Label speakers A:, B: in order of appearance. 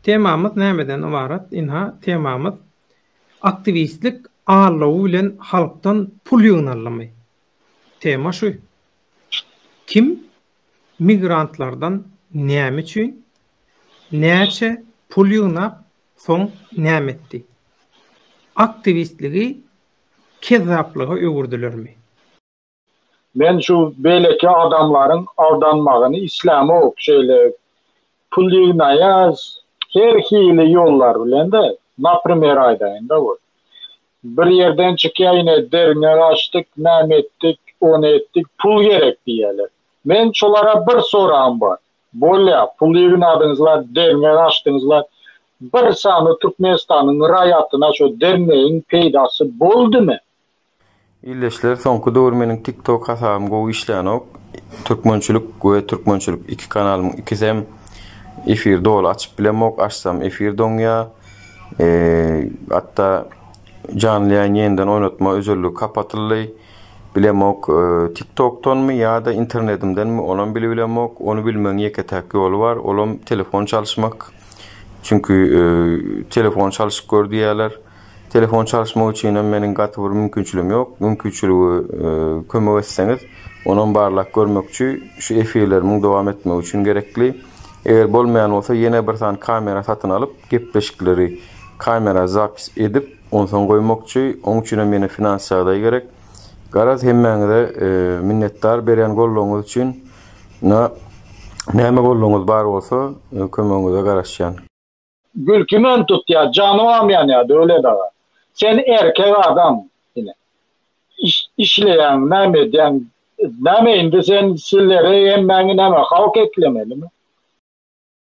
A: Temamyz nämeden ybarat? Ynha, temamyz Aktiwistlik allowy bilen halkdan pul ýygnaldymy? Tema şu. Kim migrantlardan näme üçin, näçe pul ýygnap, soň näme etdi? Aktiwistligi kezzaplyga öwürdilermi?
B: Men şu beýleki adamlaryň aldanmagyny islämok şeýle pul ýygnaýas her hili ýollar bilende naprimer aýdaýynda bul bir ýerden çykýaýne derňek açdyk näme etdik ony etdik pul gerek diýýäler men şolara bir soragym bar bolýa pul ýygnadyňyzlar derňek açdyňyzlar bir sany türkmenistanyň raýatyna şo derňegiň peýdasy boldymy.
C: Ildeşler soňky döwür meniň tik tok hasabym gowy işlänok türkmençilik we türkmençilik iki kanalymyň ikisem efir doly açyp bilemok açsam efir doňýa hatda janly ýaýyn ýeniden oýnatma özelligi kapatyldy bilemok tik tokdanmy ýada internedimdenmi onam bilibilemok ony bilmegiň ýeke täk ýoly bar olam telefon çalyşmak çünki telefon çalyşyp gör diýýäler. Telefon çalyşmak üçinem meniň gaty bir mümkinçiligim ýok. Mümkinçiligi kömek etseňiz, onam barlap görmekçi, şu efirlerimiň dowam etmegi üçin gerekli. Eger bolmaýan bolsa ýene bir sany kamera satyn alyp, gepleşikleri kamera zapis edip, onsoň goýmakçy. Oň üçinem ýene finans ýagdaý gerek. Garaz hemmäňize minnetdar berýän goldawyňyz üçin. Ynha näme goldawyňyz bar bolsa kömegiňize garaşýan. Gülkümen
B: tutýa jany bamyan ya Döwlet aga. Sen erkek adam ine. Işleýäň näme edýäň näme indi sen sizleri hemmäňi näme halk eklemelimi.